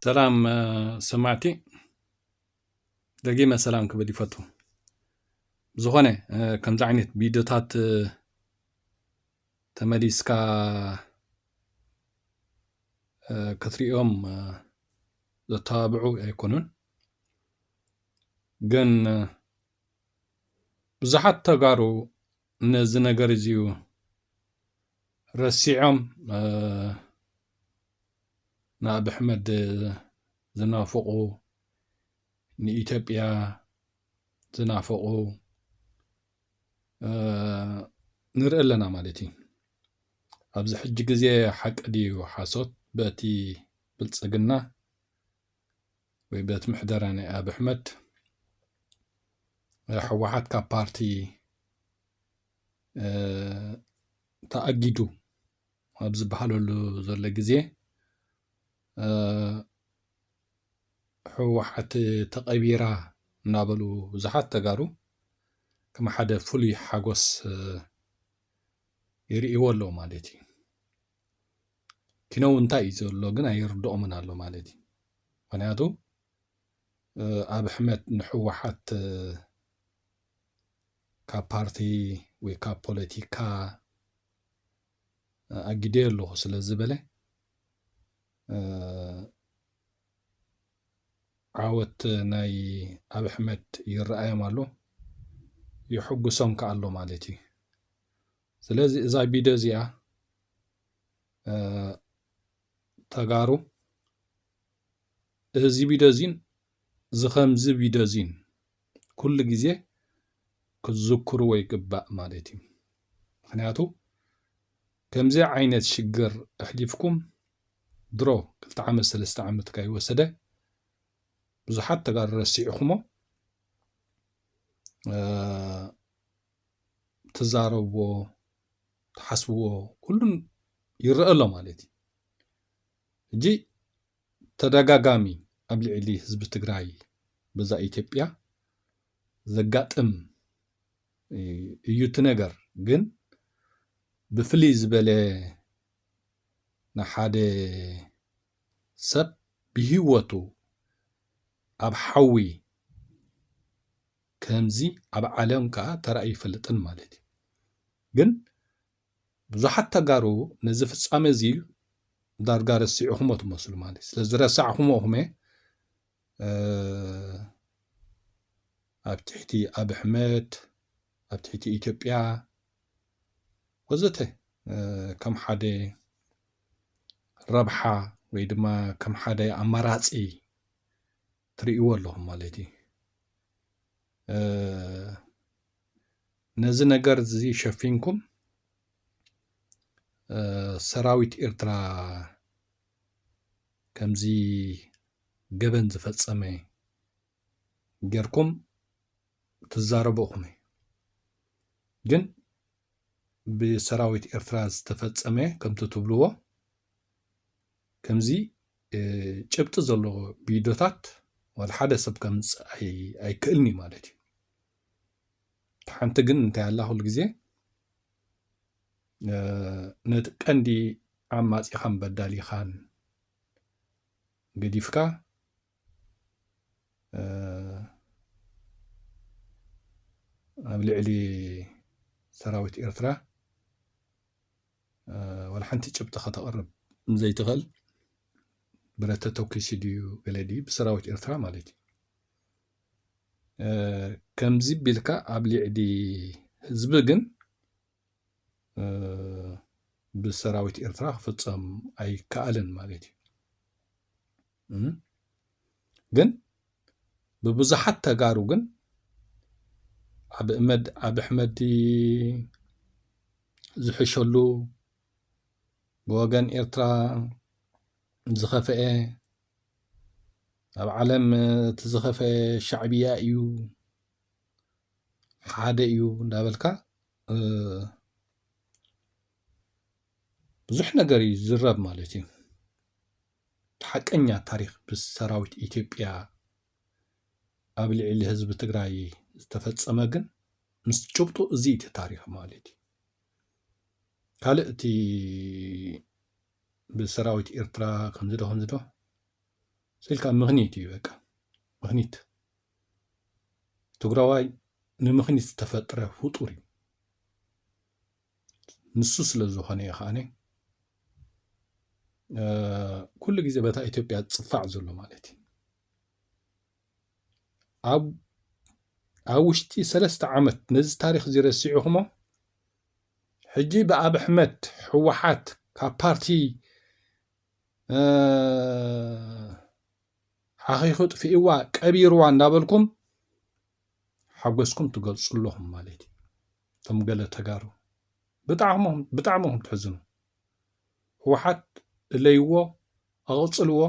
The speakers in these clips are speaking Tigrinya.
ሰላም ሰማዕቲ ደጊመ ሰላም ክብል ይፈቱ ዝኾነ ከምዚ ዓይነት ቪድዮታት ተመሊስካ ክትሪኦም ዘተባብዑ ኣይኮኑን። ግን ብዙሓት ተጋሩ ነዚ ነገር እዚዩ ረሲዖም ንኣብ ኣሕመድ ዝናፍቑ ንኢትዮጵያ ዝናፍቑ ንርኢ ኣለና ማለት እዩ ኣብዚ ሕጂ ግዜ ሓቂ ድዩ ሓሶት በቲ ብልፅግና ወይ በቲ ምሕደራ ናይ ኣብ ኣሕመድ ሕወሓት ካብ ፓርቲ ተኣጊዱ ኣብ ዝበሃለሉ ዘሎ ግዜ ህወሓት ተቐቢራ እናበሉ ብዙሓት ተጋሩ ከም ሓደ ፍሉይ ሓጎስ ይርእይዎ ኣለዉ ማለት እዩ። ኪነው እንታይ እዩ ዘሎ ግን ኣይርድኦምን ኣሎ ማለት እዩ። ምክንያቱ ኣብ ሕመት ንሕወሓት ካብ ፓርቲ ወይ ካብ ፖለቲካ ኣጊደ ኣለኹ ስለ ዝበለ ዓወት ናይ ኣብ ኣሕመድ ይረኣዮም ኣሎ የሕጉሶም ከዓ ኣሎ ማለት እዩ ስለዚ እዛ ቪድዮ እዚኣ ተጋሩ እዚ ቪድዮ እዚን እዚ ከምዚ ቪድዮ እዚን ኩሉ ግዜ ክትዝክርዎ ይግባእ ማለት እዩ ምክንያቱ ከምዚ ዓይነት ሽግር ኣሕሊፍኩም ድሮ ክልተ ዓመት ሰለስተ ዓመት ካይወሰደ ብዙሓት ተጋሩ ረሲዕኹሞ ትዛረብዎ ትሓስብዎ ኩሉን ይረአ ኣሎ ማለት እዩ እጂ ተደጋጋሚ ኣብ ልዕሊ ህዝቢ ትግራይ በዛ ኢትዮጵያ ዘጋጥም እዩ እቲ ነገር ግን ብፍልይ ዝበለ ንሓደ ሰብ ብሂወቱ ኣብ ሓዊ ከምዚ ኣብ ዓለም ከኣ ተራእዩ ኣይፈልጥን ማለት እዩ ግን ብዙሓት ተጋሩ ነዚ ፍጻመ እዚ ዳርጋ ረሲዕኹሞ ትመስሉ ማለት እዩ ስለዚ ረሳዕኹሞ እኹም ኣብ ትሕቲ ኣብ ኣሕመድ ኣብ ትሕቲ ኢትዮጵያ ወዘተ ከም ሓደ ረብሓ ወይ ድማ ከም ሓደ ኣማራፂ ትርእይዎ ኣለኹም ማለት እዩ ነዚ ነገር እዚ ሸፊንኩም ሰራዊት ኤርትራ ከምዚ ገበን ዝፈጸመ ጌርኩም ትዛረቡ እኹም ግን ብሰራዊት ኤርትራ ዝተፈጸመ ከምቲ ትብልዎ ከምዚ ጭብጢ ዘለዎ ቪድዮታት ወላ ሓደ ሰብ ከምፅእ ኣይክእልን እዩ ማለት እዩ ሓንቲ ግን እንታይ ኣላ ኩሉ ግዜ ነቲ ቀንዲ ዓማጺኻን በዳሊኻን ገዲፍካ ኣብ ልዕሊ ሰራዊት ኤርትራ ዋላ ሓንቲ ጭብጢ ከተቕርብ ዘይትኽእል ብረተ ተኪሲ ድዩ ገለ ድዩ ብሰራዊት ኤርትራ ማለት እዩ ከምዚ ቢልካ ኣብ ልዕሊ ህዝቢ ግን ብሰራዊት ኤርትራ ክፍፀም ኣይከኣልን ማለት እዩ ግን ብብዙሓት ተጋሩ ግን ኣብ እመድ ኣብ ኣሕመድ ዝሕሸሉ ብወገን ኤርትራ ዝኸፈአ ኣብ ዓለም እቲ ዝኸፈአ ሻዕብያ እዩ ሓደ እዩ እንዳበልካ ብዙሕ ነገር እዩ ዝዝረብ ማለት እዩ ሓቀኛ ታሪክ ብሰራዊት ኢትዮጵያ ኣብ ልዕሊ ህዝቢ ትግራይ ዝተፈፀመ ግን ምስ ጭብጡ እዚ እቲ ታሪክ ማለት እዩ ካልእ እቲ ብሰራዊት ኤርትራ ከምዚ ዶ ከምዚ ዶ ስኢልካ ምክኒት እዩ በቃ ምክኒት ትግራዋይ ንምኽኒት ዝተፈጥረ ፍጡር እዩ። ንሱ ስለ ዝኾነ እዩ ከዓነ ኩሉ ግዜ በታ ኢትዮጵያ ዝፅፋዕ ዘሎ ማለት እዩ ኣብ ኣብ ውሽጢ ሰለስተ ዓመት ነዚ ታሪክ እዚ ረሲዕኹሞ ሕጂ ብኣብ ኣሕመድ ህወሓት ካብ ፓርቲ ሓኺኹ ጥፊእዋ ቀቢርዋ እንዳበልኩም ሓጎስኩም ትገልጹ ኣለኹም ማለት እዩ እቶም ገለ ተጋሩ ብጣዕሚ ኹም ትሕዝኑ ህወሓት እለይዎ ኣቕጽልዎ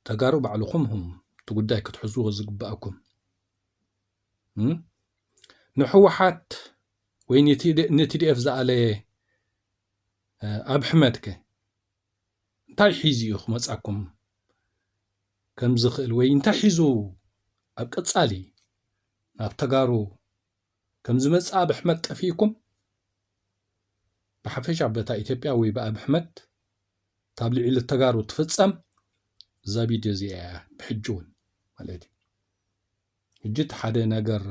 ተጋሩ ባዕልኹም ኹም እቲ ጉዳይ ክትሕዝዎ ዝግባኣኩም ንሕወሓት ወይ ንቲዲኤፍ ዝኣለየ ኣብሕመድ ከ እንታይ ሒዙ እዩ ክመጻኩም ከም ዝኽእል ወይ እንታይ ሒዙ ኣብ ቀጻሊ ናብ ተጋሩ ከም ዝመጽእ ኣብ ኣሕመድ ጠፊእኩም ብሓፈሻ በታ ኢትዮጵያ ወይ ብኣብ ኣሕመድ ካብ ልዕሊ ተጋሩ ትፍጸም እዛ ቪድዮ እዚኣ እያ ብሕጂ እውን ማለት እዩ ሕጂ እቲ ሓደ ነገር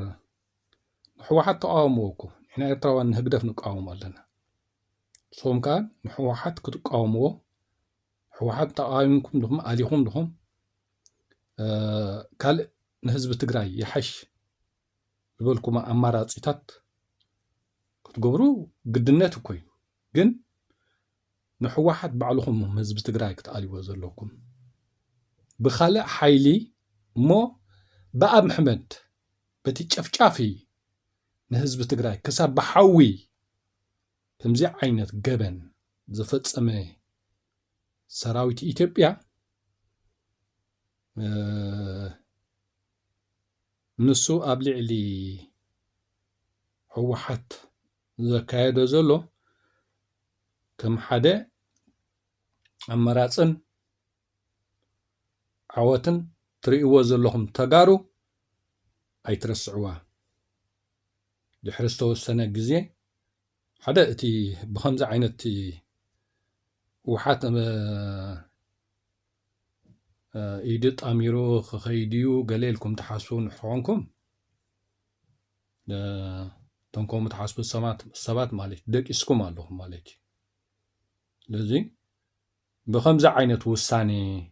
ንሕወሓት ተቃወምዎ እኮ ንሕና ኤርትራውያን ንህግደፍ ንቃወሞ ኣለና ንስኹም ከኣ ንሕወሓት ክትቃወምዎ ሕወሓት ተቃዊምኩም ድኹም ኣሊኹም ድኹም ካልእ ንህዝቢ ትግራይ ይሓሽ ዝበልኩሞ ኣማራፂታት ክትገብሩ ግድነት እኮ እዩ ግን ንሕወሓት ባዕልኹም ህዝቢ ትግራይ ክትኣልዎ ዘለኩም ብካልእ ሓይሊ እሞ ብኣብ ምሕመድ በቲ ጨፍጫፊ ንህዝቢ ትግራይ ክሳብ ብሓዊ ከምዚ ዓይነት ገበን ዝፈፀመ ሰራዊት ኢትዮጵያ ንሱ ኣብ ልዕሊ ህወሓት ዘካየዶ ዘሎ ከም ሓደ ኣመራፅን ዓወትን ትሪእዎ ዘለኹም ተጋሩ ኣይትረስዕዋ ድሕሪ ዝተወሰነ ግዜ ሓደ እቲ ብኸምዚ ዓይነት ውሓት ኢዱ ጣሚሩ ክኸይድ እዩ ገለ ኢልኩም ትሓስቡ ንሕኾንኩም እቶም ከምኡ ትሓስቡ ሰባት ማለት ደቂስኩም ኣለኹም ማለት እዩ ስለዚ ብኸምዚ ዓይነት ውሳኔኸ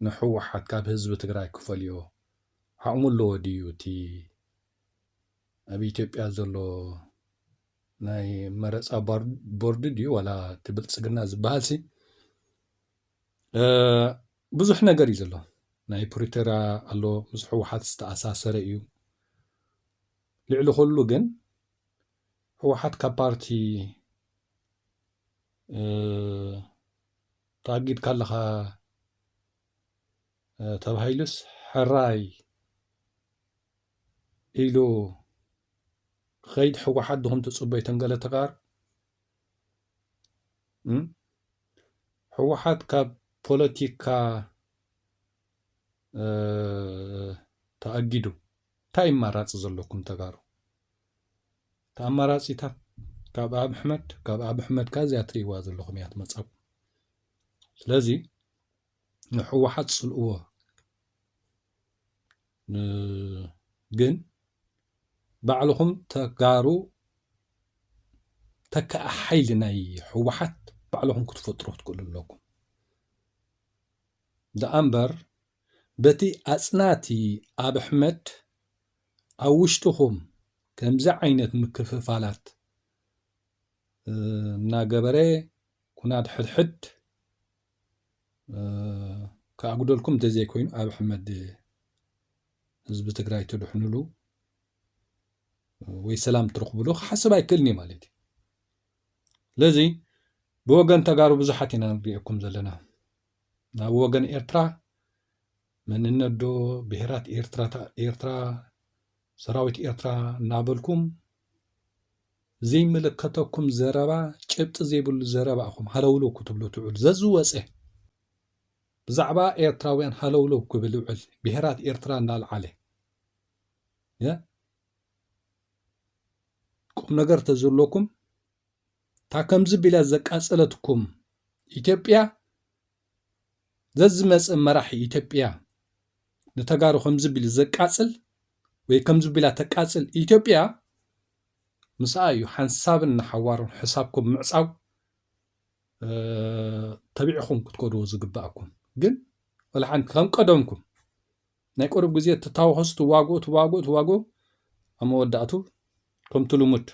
ንሕወሓት ካብ ህዝቢ ትግራይ ክፈልዮ ዓቕሙ ኣለዎ ድዩ እቲ ኣብ ኢትዮጵያ ዘሎ ናይ መረፃ ቦርድ ድዩ ዋላ እቲ ብልፅግና ዝበሃልሲ ብዙሕ ነገር እዩ ዘሎ ናይ ፕሪቶርያ ኣሎ ምስ ሕወሓት ዝተኣሳሰረ እዩ ልዕሊ ኩሉ ግን ህወሓት ካብ ፓርቲ ተኣጊድካ ኣለኻ ተባሂሉስ ሕራይ ኢሉ ክኸይድ ህወሓት ድኹም ትፅበ ተንገለ ተጋር ህወሓት ካብ ፖለቲካ ተኣጊዱ ታይ እማራፂ ዘለኩም ተጋሩ እቲ ኣማራፂታት ካብ ኣብ ኣሕመድ ካብ ኣብ ኣሕመድ ከ እዚኣ ትሪእዋ ዘለኹም እያ ትመፃኩም ስለዚ ንሕወሓት ፅልእዎ ግን ባዕልኹም ተጋሩ ተካእ ሓይሊ ናይ ሕወሓት ባዕልኹም ክትፈጥሩ ክትክእሉ ኣለኩም ደኣ እምበር በቲ ኣጽናቲ ኣብሕመድ ኣብ ውሽጥኹም ከምዚ ዓይነት ምክፍፋላት እናገበረ ኩናት ሕድሕድ ክኣጉደልኩም እንተዘይኮይኑ ኣብሕመድ ህዝቢ ትግራይ ትድሕንሉ ወይ ሰላም ትረኽብሉ ክሓስብ ኣይክእልን እዩ ማለት እዩ ስለዚ ብወገን ተጋሩ ብዙሓት ኢና ንሪኤኩም ዘለና ናብ ወገን ኤርትራ መንነትዶ ብሄራት ኤርትራ ሰራዊት ኤርትራ እናበልኩም ዘይምልከተኩም ዘረባ ጭብጢ ዘይብሉ ዘረባ ኢኹም ሃለውለው ክትብሉ ትውዕሉ ዘዝወፀ ብዛዕባ ኤርትራውያን ሃለውለው ክብል ይውዕል ብሄራት ኤርትራ እናልዓለ ቁም ነገር ተዘለኩም እታ ከምዚ ቢላ ዘቃጸለትኩም ኢትዮጵያ ዘዝመጽእ መራሒ ኢትዮጵያ ንተጋሩ ከምዚ ቢሉ ዘቃጽል ወይ ከምዚ ቢላ ተቃጽል ኢትዮጵያ ምስኣ እዩ ሓንሳብን ንሓዋሩን ሕሳብኩም ምዕጻው ተቢዕኹም ክትከድዎ ዝግባእኩም ግን ወላ ሓንቲ ከም ቀደምኩም ናይ ቅሩብ ግዜ ትታወኸሱ ትዋግኡ ትዋግኡ ትዋግኡ ኣብ መወዳእቱ ከምቲ ልሙድ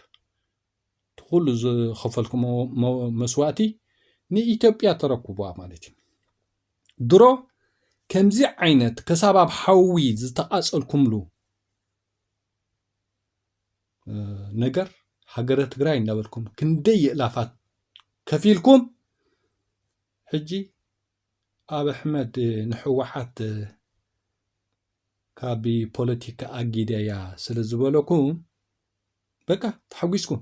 እቲ ኩሉ ዝኸፈልክሞ መስዋእቲ ንኢትዮጵያ ተረክቡዋ ማለት እዩ ድሮ ከምዚ ዓይነት ከሳብ ኣብ ሓዊ ዝተቃጸልኩምሉ ነገር ሃገረ ትግራይ እናበልኩም ክንደይ የእላፋት ከፊልኩም ሕጂ ኣብ ኣሕመድ ንሕወሓት ካብ ፖለቲካ ኣጊደያ ስለ ዝበለኩም በቃ ተሓጒስኩም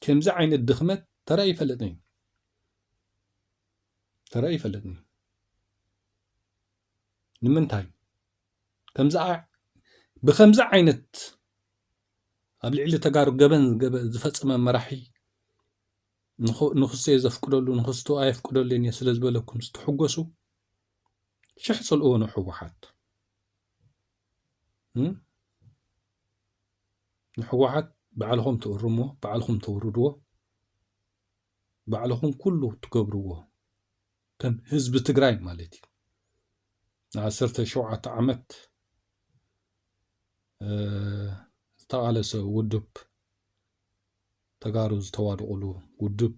ከምዚ ዓይነት ድኽመት ተራ ይፈለጥኒ ተራ ይፈለጥኒ ንምንታይ ከምዚ ብከምዚ ዓይነት ኣብ ልዕሊ ተጋሩ ገበን ዝፈፀመ መራሒ ንክሰዮ ዘፍቅደሉ ንክስቶ ኣየፍቅደሉን እየ ስለዝበለኩም ዝተሕጎሱ ሽሕ ፅልእዎ ንሕወሓት ንሕዋሓት ባዕልኹም ትእርምዎ ባዕልኹም ተውርድዎ ባዕልኹም ኩሉ ትገብርዎ ከም ህዝቢ ትግራይ ማለት እዩ ንዓሰርተ ሸውዓተ ዓመት ዝተቓለሰ ውድብ ተጋሩ ዝተዋድቑሉ ውዱብ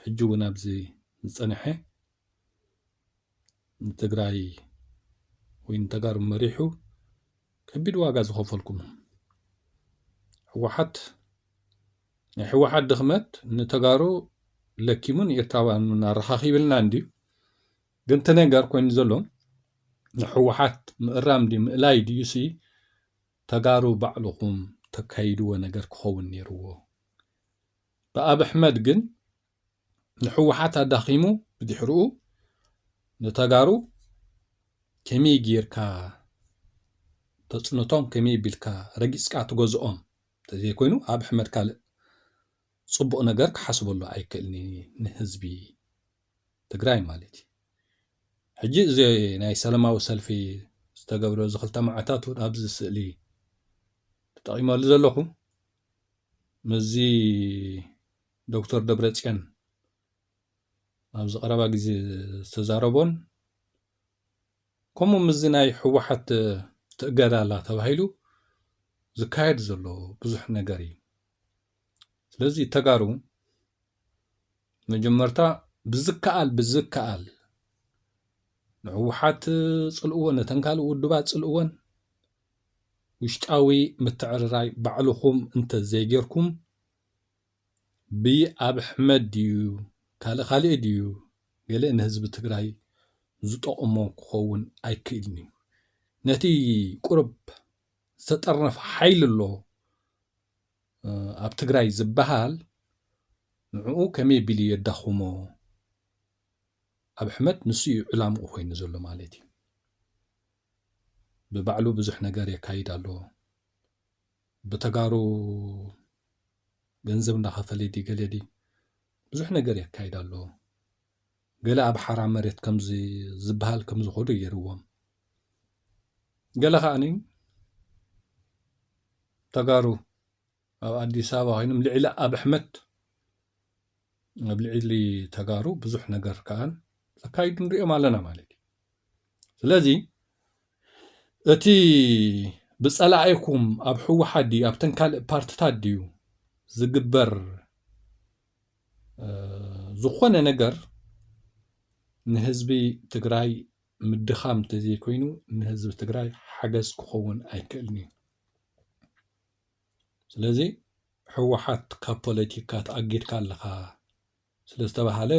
ሕጂ ውን ኣብዚ ዝጸንሐ ንትግራይ ወይ ንተጋሩ መሪሑ ከቢድ ዋጋ ዝኸፈልኩም ህወሓት ናይ ህወሓት ድኽመት ንተጋሩ ለኪሙ ንኤርትራውያን ውን ኣረኻኺብልና እንድዩ ግን እቲ ነገር ኮይኑ ዘሎ ንህወሓት ምእራም ድዩ ምእላይ ድዩሲ ተጋሩ ባዕልኹም ተካይድዎ ነገር ክኸውን ኔርዎ ብኣብ ኣሕመድ ግን ንሕወሓት ኣዳኺሙ ብድሕርኡ ንተጋሩ ከመይ ጌርካ ተጽንቶም ከመይ ቢልካ ረጊጽካ ትገዝኦም ተዘይኮይኑ ኣብ ኣሕመድ ካልእ ጽቡቕ ነገር ክሓስበሉ ኣይክእልንዩ ንህዝቢ ትግራይ ማለት እዩ ሕጂ እዚ ናይ ሰላማዊ ሰልፊ ዝተገብረ እዚ ክልተ መዓልታት እውን ኣብዚ ስእሊ ተጠቒመሉ ዘለኹ ምስዚ ዶክተር ደብረፅዮን ኣብዚ ቀረባ ግዜ ዝተዛረቦን ከምኡ ምስዚ ናይ ህወሓት ትእገዳ ኣላ ተባሂሉ ዝካየድ ዘሎ ብዙሕ ነገር እዩ ስለዚ ተጋሩ መጀመርታ ብዝከኣል ብዝከኣል ንህወሓት ፅልእዎ ነተን ካልእ ውድባት ፅልእወን ውሽጣዊ ምትዕርራይ ባዕልኹም እንተዘይጌርኩም ብኣብ ኣሕመድ ድዩ ካልእ ካልእ ድዩ ገለ ንህዝቢ ትግራይ ዝጠቕሞ ክኸውን ኣይክእልን እዩ ነቲ ቁርብ ዝተጠርነፈ ሓይሊ ኣሎ ኣብ ትግራይ ዝባሃል ንዑኡ ከመይ ቢሉ የዳኹሞ ኣብሕመድ ንሱ እዩ ዕላምኡ ኮይኑ ዘሎ ማለት እዩ ብባዕሉ ብዙሕ ነገር የካይድ ኣሎ ብተጋሩ ገንዘብ እንዳኸፈለ ዲ ገለ ዲ ብዙሕ ነገር የካይድ ኣሎ ገለ ኣብ ሓራ መሬት ከምዚ ዝበሃል ከም ዝኸዱ ገይርዎም ገለ ከዓኒ ተጋሩ ኣብ ኣዲስ ኣበባ ኮይኖም ልዕሊ ኣብ ኣሕመድ ኣብ ልዕሊ ተጋሩ ብዙሕ ነገር ከዓን ዘካይዱ ንሪኦም ኣለና ማለት እዩ ስለዚ እቲ ብፀላኢኩም ኣብ ሕወሓት ድዩ ኣብተን ካልእ ፓርትታት ድዩ ዝግበር ዝኾነ ነገር ንህዝቢ ትግራይ ምድኻም እንተዘይኮይኑ ንህዝቢ ትግራይ ሓገዝ ክኸውን ኣይክእልን እዩ ስለዚ ህወሓት ካብ ፖለቲካ ተኣጊድካ ኣለኻ ስለ ዝተባሃለ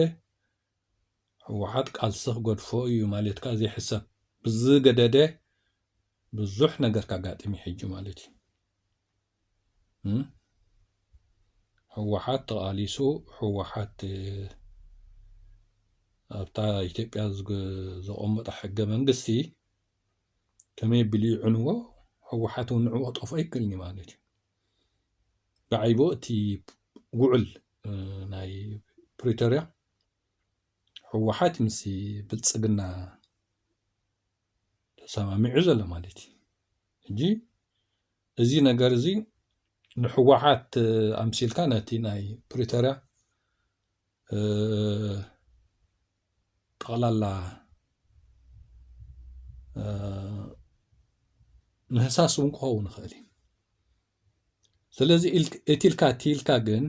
ህወሓት ቃልሲ ክገድፎ እዩ ማለት ከዓ ዘይሕሰብ ብዝገደደ ብዙሕ ነገር ካጋጥም ሕጂ ማለት እዩ ህወሓት ተቓሊሱ ህወሓት ኣብታ ኢትዮጵያ ዘቐመጦ ሕገ መንግስቲ ከመይ ኣቢሉ ይዕንዎ ህወሓት እውን ንዕኡ ክጠፍኦ ኣይክእልን እዩ ማለት እዩ ደዓይቦ እቲ ውዕል ናይ ፕሪቶርያ ህወሓት ምስ ብልፅግና ተሰማሚዑ ዘሎ ማለት እዩ ሕጂ እዚ ነገር እዚ ንሕወሓት ኣምሲልካ ነቲ ናይ ፕሪቶርያ ጠቕላላ ምህሳስ እውን ክኸውን ይኽእል እዩ ስለዚ እቲ ኢልካ እቲ ኢልካ ግን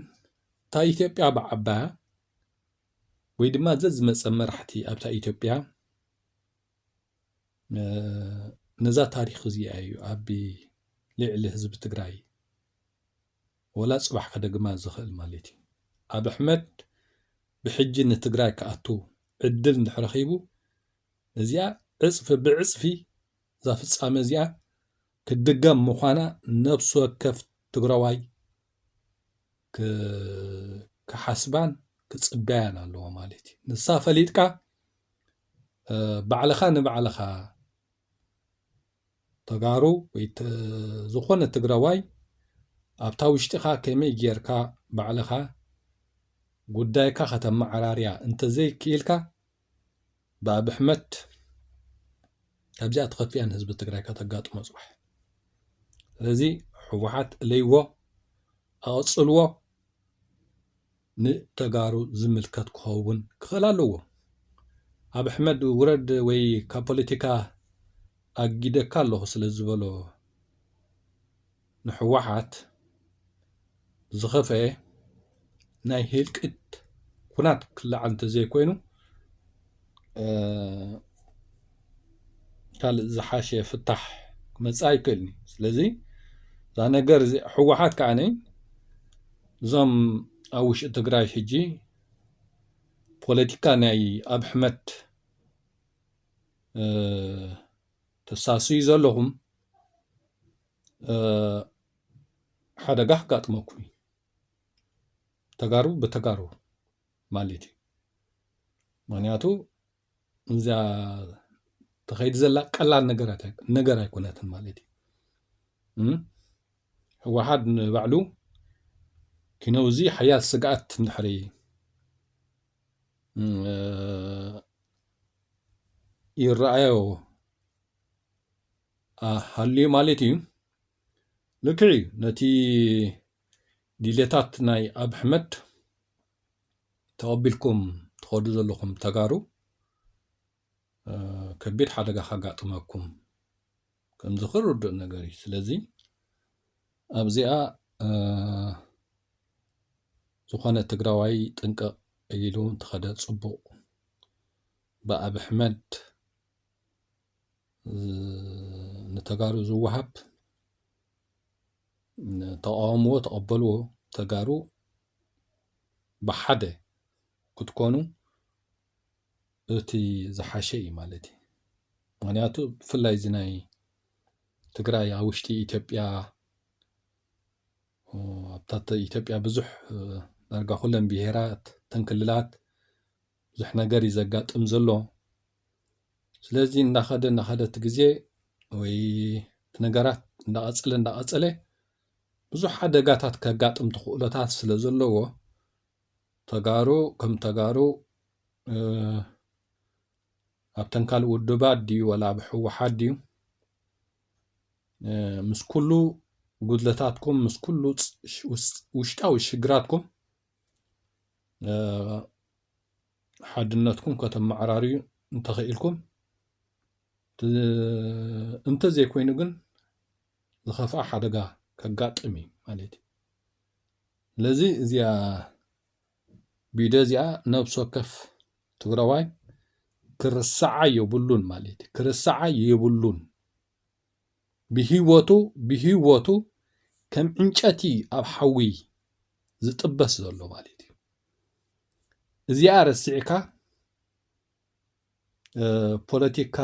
እታ ኢትዮጵያ ብዓባያ ወይ ድማ ዘዝመፀ መራሕቲ ኣብታ ኢትዮጵያ ነዛ ታሪክ እዚኣ እዩ ኣብ ልዕሊ ህዝቢ ትግራይ ወላ ፅባሕ ከደግማ ዝኽእል ማለት እዩ ኣብ ኣሕመድ ብሕጂ ንትግራይ ክኣቱ ዕድል እንድሕር ረኺቡ እዚኣ ዕፅፊ ብዕፅፊ እዛ ፍፃመ እዚኣ ክትድገም ምዃና ነብሲ ወከፍ ትግራዋይ ክሓስባን ክፅበያን ኣለዎ ማለት እዩ ንሳ ፈሊጥካ ባዕልኻ ንባዕልኻ ተጋሩ ወይ ዝኾነ ትግራዋይ ኣብታ ውሽጢኻ ከመይ ጌርካ ባዕልኻ ጉዳይካ ከተመዓራርያ እንተዘይክኢልካ ብኣብ ኣሕመድ ካብዚኣ ትኸፍያ ንህዝቢ ትግራይ ከተጋጥሞ ፅባሕ ስለዚ ሕወሓት እለይዎ ኣቐፅልዎ ንተጋሩ ዝምልከት ክኸውን ክኽእል ኣለዎ። ኣብ ኣሕመድ ውረድ ወይ ካብ ፖለቲካ ኣጊደካ ኣለኹ ስለ ዝበሎ ንሕወሓት ዝኸፈኤ ናይ ህልቂት ኩናት ክለዓል እንተዘይኮይኑ ካልእ ዝሓሸ ፍታሕ ክመፅእ ኣይክእልን እዩ። ስለዚ እዛ ነገር እዚ ሕወሓት ከዓኒ እዞም ኣብ ውሽጢ ትግራይ ሕጂ ፖለቲካ ናይ ኣብ ሕመት ተሳስዩ ዘለኹም ሓደጋ ክጋጥመኩም እዩ ተጋሩ ብተጋሩ ማለት እዩ ምክንያቱ እዛ ተኸይድ ዘላ ቀላል ነገር ኣይኮነትን ማለት እዩ ህወሓት ንባዕሉ ኪነው እዚ ሓያል ስግኣት እንድሕሪ ይረኣዮ ሃልዩ ማለት እዩ ልክዕ እዩ ነቲ ድሌታት ናይ ኣብ ሕመድ ተቐቢልኩም ትኸዱ ዘለኹም ተጋሩ ከቢድ ሓደጋ ካጋጥመኩም ከምዚ ክርዱእ ነገር እዩ ስለዚ ኣብዚኣ ዝኾነ ትግራዋይ ጥንቅቕ ኢሉ እንተኸደ ፅቡቕ ብኣብ ኣሕመድ ንተጋሩ ዝወሃብ ተቃወምዎ ተቐበልዎ ተጋሩ ብሓደ ክትኮኑ እቲ ዝሓሸ እዩ ማለት እዩ። ምክንያቱ ብፍላይ እዚ ናይ ትግራይ ኣብ ውሽጢ ኢትዮጵያ ኣብታ ኢትዮጵያ ብዙሕ ዳርጋ ኩለን ብሄራት እተን ክልላት ብዙሕ ነገር እዩ ዘጋጥም ዘሎ ስለዚ እናኸደ እናኸደ እቲ ግዜ ወይ እቲ ነገራት እናቐፀለ እናቐፀለ ብዙሕ ሓደጋታት ከጋጥም ትኽእሎታት ስለ ዘለዎ ተጋሩ ከም ተጋሩ ኣብተን ካልእ ውድባት ድዩ ወላ ኣብ ህወሓት ድዩ ምስ ኩሉ ጉድለታትኩም ምስ ኩሉ ውሽጣዊ ሽግራትኩም ሓድነትኩም ከተመዓራርዩ እንተኽኢልኩም እንተዘይኮይኑ ግን ዝኸፍኣ ሓደጋ ከጋጥም እዩ ማለት እዩ። ስለዚ እዚኣ ቢደ እዚኣ ነብሲ ወከፍ ትግራዋይ ክርሰዓ የብሉን ማለት እዩ። ክርሰዓ የብሉን ብሂወቱ ብሂወቱ ከም ዕንጨቲ ኣብ ሓዊ ዝጥበስ ዘሎ ማለት እዩ። እዚኣ ረሲዕካ ፖለቲካ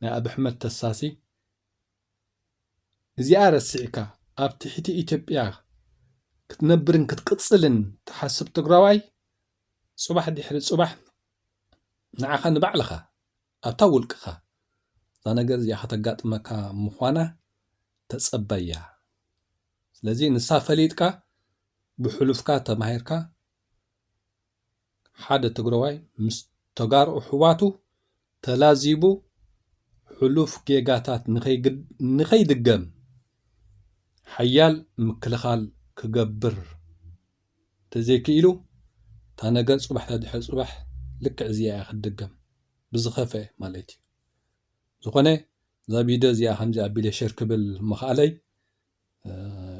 ናይ ኣብሕመድ ተሳሲ እዚኣ ረሲዕካ ኣብ ቲሒቲ ኢትዮጵያ ክትነብርን ክትቅጽልን ትሓስብ ትግራዋይ ጽባሕ ዲሕሪ ጽባሕ ንዓኻ ንባዕልኻ ኣብታ ውልቅኻ እዛ ነገር እዚኣ ከተጋጥመካ ምዃና ተጸበያ ስለዚ ንሳ ፈሊጥካ ብሕሉፍካ ተማሂርካ ሓደ ትግረዋይ ምስ ተጋሩ ኣሕዋቱ ተላዚቡ ሕሉፍ ጌጋታት ንኸይድገም ሓያል ምክልኻል ክገብር እንተዘይክኢሉ እታ ነገር ፅባሕ ተድሕሪ ፅባሕ ልክዕ እዚኣ እያ ክትድገም ብዝኸፈ ማለት እዩ ዝኾነ እዛ ቪድዮ እዚኣ ከምዚ ኣቢለ ሸር ክብል ምኽኣለይ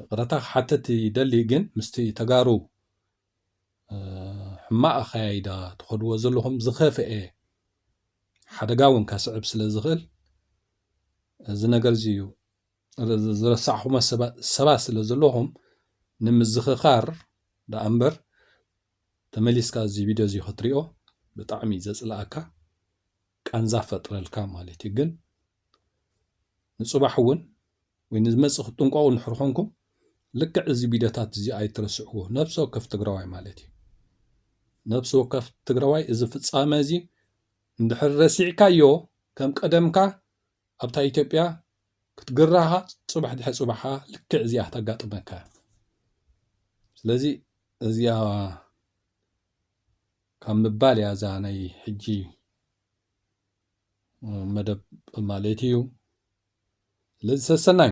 ይቕረታ ክሓትት ይደሊ ግን ምስቲ ተጋሩ ሕማቅ ኣኸያይዳ ትኸድዎ ዘለኹም ዝኸፍኤ ሓደጋ እውን ከስዕብ ስለ ዝኽእል እዚ ነገር እዚ እዩ ዝረሳዕኹሞ ሰባት ስለ ዘለኹም ንምዝኽኻር ደኣ እምበር ተመሊስካ እዚ ቪድዮ እዚ ክትሪኦ ብጣዕሚ ዘፅልኣካ ቃንዛ ፈጥረልካ ማለት እዩ ግን ንጽባሕ እውን ወይ ንዝመጽእ ክትጥንቀቑ እንድሕር ኾንኩም ልክዕ እዚ ቪድዮታት እዚ ኣይትረስዕዎ። ነብሲ ወከፍ ትግራዋይ ማለት እዩ። ነብሲ ወከፍ ትግራዋይ እዚ ፍጻመ እዚ እንድሕር ረሲዕካዮ ከም ቀደምካ ኣብታ ኢትዮጵያ ክትግራኻ ጽባሕ ድሕሪ ጽባሕ ከዓ ልክዕ እዚኣ ክተጋጥመካ እያ። ስለዚ እዚኣ ካብ ምባል እያ እዛ ናይ ሕጂ መደብ ማለት እዩ ስለዚ ሰሰናዩ